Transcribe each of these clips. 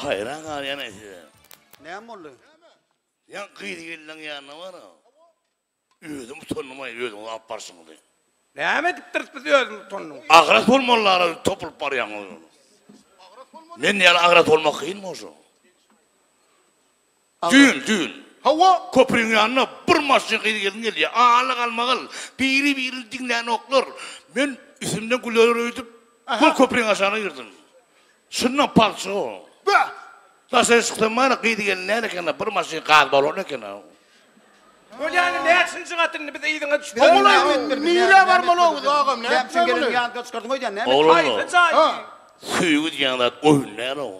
Haýran galýan aý size. Näme boldy? Ýa gyz gelniň ýanyna bar-a. Özüm utandym aý özüňiz alyp barşyňyzy. Näme edipdiris biz özümiz utandym. Agras bolmalylara topulyp barýaňyz. Men ýaly agras bolmak kynmy oşo? Düýn, düýn. Hawa, köpriň ýanyna bir maşyn gyz-gelin gelýär. Ala-galmagal, biri-birini diňlänoklar. Men üstümden güleler öýdüp, gol köpriň aşagyna girdim. Çyndan palçyga. Bäh! Daşary çyksam bar-a, gyz-gelin däl eken-a, bir maşyn gaz balony eken-a. Bolýany, näçinji gat indi biz yzyňa düşdük. Hawa, ol aýdym, nirä barmalybyz, agam, nätmeli? Näçe gelin ýaly gyzçykaryň öýdýän näme? Oglanlar, söýgi diýen zat oýun däl-ow.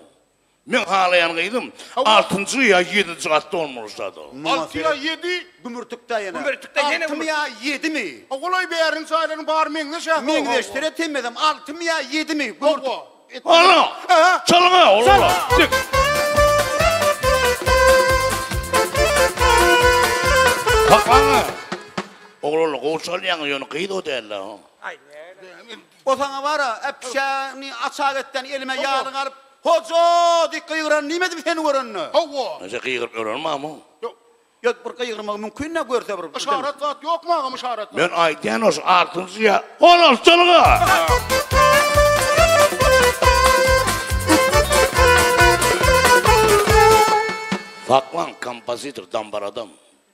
Meň halaýan gyzym altynjy ýa ýedinji gatda bolmaly şado. Alty ýa ýedi? Gümürtikdä ýene. Gümürtikde ýene Altymy ýa ýedimi? Ogulaý bäriň jaýlaryň bary meňzeş ä. Meňzeşdir-ä temmedem. Altymy ýa ýedimi? Hawa. Ala! Çalga oglanlar! Dik! Hakyň! Oglanlar gowy çalýaňyz ýöne gyz o däl-ä. Aý. O saňa bar-a, äpişäni açak etden elime ýaly galyp, Hoja! diýip gygyran nime edip seni görende? Hawa. Näçe gygyryp ýörenim agam? Ýok. Ýok, bir gygyrmagy mümkin-dä, görse bir. Yşarat zat ýokmy agam, yşarat zat? Men aýdýan-a şu altynjy ýa on altylygy-a! Saklan, kompozitor, dambaradam.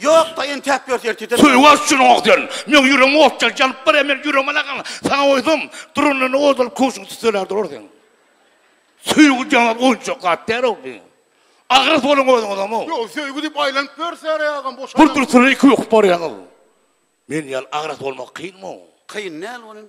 Ýok da entäp ýör sen tizem. Söýgäs üçin ok sen. Meň ýüregim ot ýaly janyp barýar, meniň ýüregime lagym saňa goýsam, durunlyny ozalyp köwşüňi tüsseläp durar seň. Söýgi diýeniňiz oýunjak zat däl-ow bu. Agras boluň özüňizem-ow. Ýok, söýgi diýip aýlanyp ýörsäre agam boş adam. Bürkülsini iki öküp barýaňyz. Men ýaly agras bolmak kynm-ow. Kyn däl welin.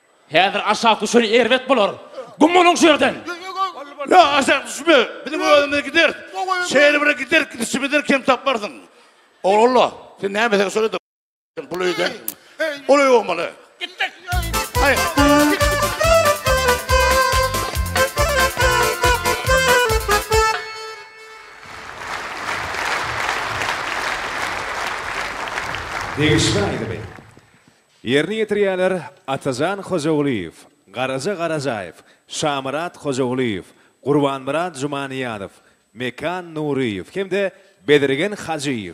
Häzir aşak düşen erbet bolar. Güm boluň şu ýerden! Ýa aşak düşme, biziň özümiz gideris. Şeýle bir gider gidişimizden kem tapmarsyň. Ogulalla, sen näme sen şol ýerde bul öýde. Ol öý bolmaly. Gitdik. Degişme aýdymy. Ýerine ýetirýärler, Atajan Hojagulyýew, Garaja Garajaýew, Şamyrat Hojagulyýew, Gurbanmyrat Jumanyýazow, Mekan Nuryýew hem-de Bezirgen Hajyýew.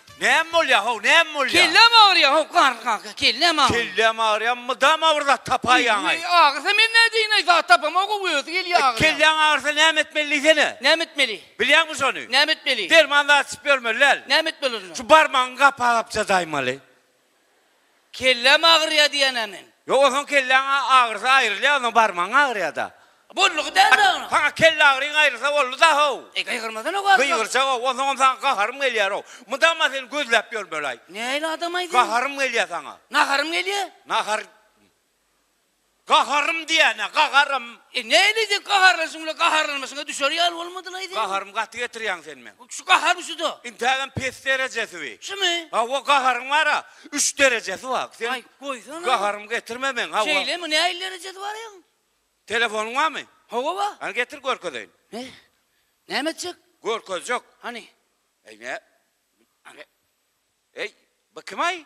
Näme bolýar how, näme bolýar? Kelläm agyrýar how, garry kaka, kelläm agyr. Kelläm agyrýar, mydam agyr zat tapaýýaň-aý. Indi agyrsa men nädeýin-aý, zat tapamok how, özi gelýär E, agyrýar. kelläň agyrsa näme etmeli diýsene? Näme etmeli? Bilýäňmi şony? Näme etmeli? Derman zat içip ýörmeli däl. Näme etmeli onda? Şu barmagyňy gapagapja daýmaly. Kelläm agyrýa diýenä men. Ýok onsoň kelläň agyrsa aýrylýa onsoň barmagyň agyrýada. Boldugy dälda onuň. Saňa kelle agyryň aýrylsa bolduda how. Eý gygyrmasana barybir. Gygyrjak how onsoň hem saňa gaharym gelýär how. Mydama seni gözläp ýörmeli aý. Nähili adamaý sen. Gaharym gelýä saňa. Naharym gelýä. Nahar. Gaharym diýýän-ä, gaharym. E, näleýjek gaharlanşyňla, gaharlanmaşyňa düşer ýaly bolmadylaýsy? Gaharymy gaty getirýäň sen meň. Şu gaharyň şu-da. Intägem pes derejesi bi. Şumy? Hawa, gaharyň bar-a, üç derejesi bar. Sen Aý, goýsana. gaharymy getirme meň, hawa. Şeýlemi, nähili derejesi bar ýaň? Telefonyň barmy? Hawa, bar. Hany getir görkezeýin. Hä? Näme etjek? Görkezjek. Hany? Eý, nä? Hany? Eý, bu kim-aý?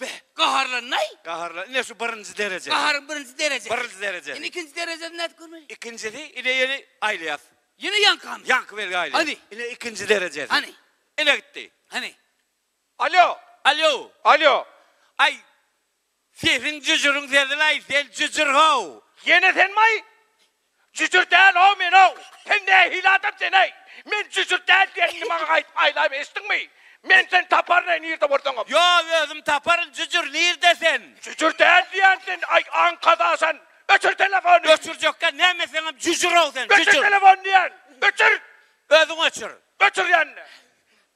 Be, gaharlandaý! Gaharlan, ine şu birinji dereje. Gaharyň birinji derejesi. Birinji derejesi. Indi ikinji derejesini nädip görmeli? Ikinjisi, ine ýene aýlaýas. Ýene ýaňkamy? Ýaňky belgi aýlaýas. Hany. Ine ikinji derejesi. Hany. Ine gitdi. Hany. Alýo! Alýo! Alýo! Aý, sesiň jüjüriň sesini-aý, sen jüjür-how! Ýene senmi-aý? Jüjür däl-ow men-ow! Sen nähili adam sen-eý? Men jüjür däl diýenini maňa gaýdyp aýlaýma eşitdiňmi? Men seni taparyn-eý nirde bolsaňam! Ýo, özüm taparyn, jüjür, nirde sen? Jüjür däl diýýän sen, aý, aňkada sen! Öçür telefony! Öçürjekkä näme seňem jüjür-ow sen, jüjür! Öçür telefony diýýän! Öçür! Özüň öçür! Öçür ýanny!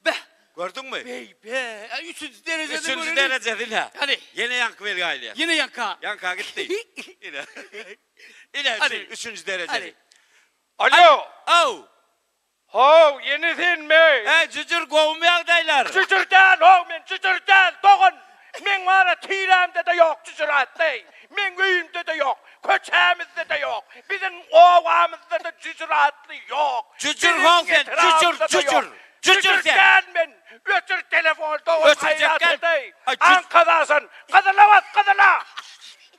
Beh! Gördüňmi? Beý-be! Äý, üçünji derejede göreli! Üçünji derejede-le! Hany! Ýene ýaňky belgä aýlaýar. Ýene ýaňka! Ýaňka gitdi. Ine. Ine, şu üçünji derejeli. Alo! How! How, ýene senmi? He, Jüjür, gowumy ýagdaýlar? Jüjür däl, how, men Jüjür däl, dogan! Meň wara tirämde-de ýok Jüjür atly. Meň öýümde-de ýok, köçämizde-de ýok, biziň obamyzda-da Jüjür atly ýok. Jüjür how sen, Jüjür, Jüjür! Jüjür däl men! Öçür telefony, dogan, haýrat edeý! Aňkazasan! Gyzylabat, gyzyla!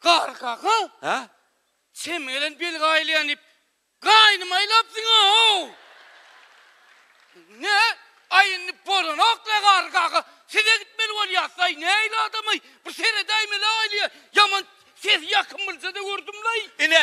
Garry kaka, Hä? sen gelen bil gaýylýan diýip, gaýnymy aýlapsyň-ow! Ne, aý indi bolanok-la, Garry kaka, siz-ä gitmeli bolýasyz-aý, nähili adam-aý, bir seredäýmeli-aýly, ýaman sesi ýakym bilse-de gördüm-laý. Ine,